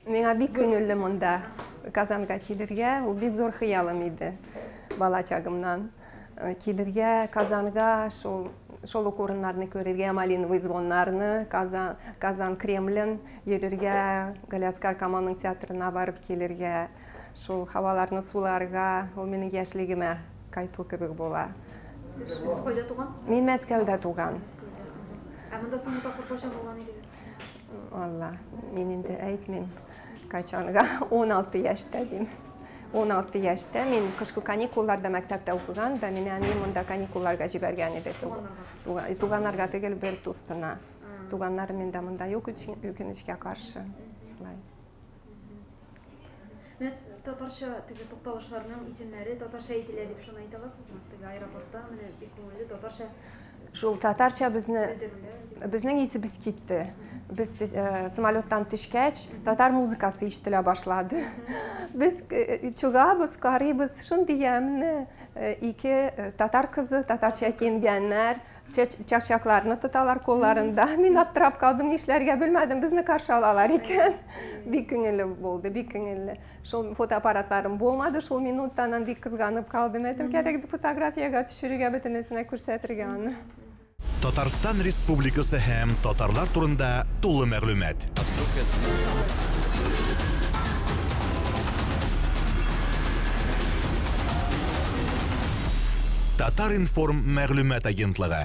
Миңа бик күңелле монда Казанга килергә, ул бик зур хыялым иде бала чагымнан. Э, килергә Казанга, шул шул ук урыннарны күрергә, Малиновый звоннарны, Казан, Казан Кремлен йөрергә, Галиаскар Камалның театрына барып килергә. Шул һаваларны суларга, ул минем яшьлегемә кайту кебек була. Сез кайда туган? Мин Мәскәүдә туган. Ә монда соңгы тапкыр кайчан булган идегез? Алла, мин инде әйтмим. Кайчанга 16 яшьтә дим. 16 яшьтә мин кышкы каникулларда мәктәптә укыган да мине әни монда каникулларга җибәргән иде туганнарга түгел бер дустына туганнарым инде монда юк өчен үкенечкә каршы шулай Татарча теге тукталышларның исемнәре татарча әйтелә дип шуны әйтә аласызмы? Теге аэропортта менә бик күңелле татарча Шул татарча безне безнең исебез китте. Без э, самолеттан төшкәч, татар музыкасы ишетелә башлады. Без э, чугабыз, карыйбыз, шундый ямьне э, ике татар кызы татарча киенгәннәр, чакчакларны тоталар кулларында. Мин аптырап калдым, нишләргә белмәдем, безне каршы алалар икән. Бик күңелле булды, бик күңелле. Шул фотоаппаратларым булмады, шул минутта аннан бик кызганып калдым. Әйтем кирәк фотографиягә төшерергә бөтенесенә күрсәтергә аны. Татарстан Республикасы һәм татарлар турында тулы мәгълүмат. Татар-информ мәгълүмат агентлыгы.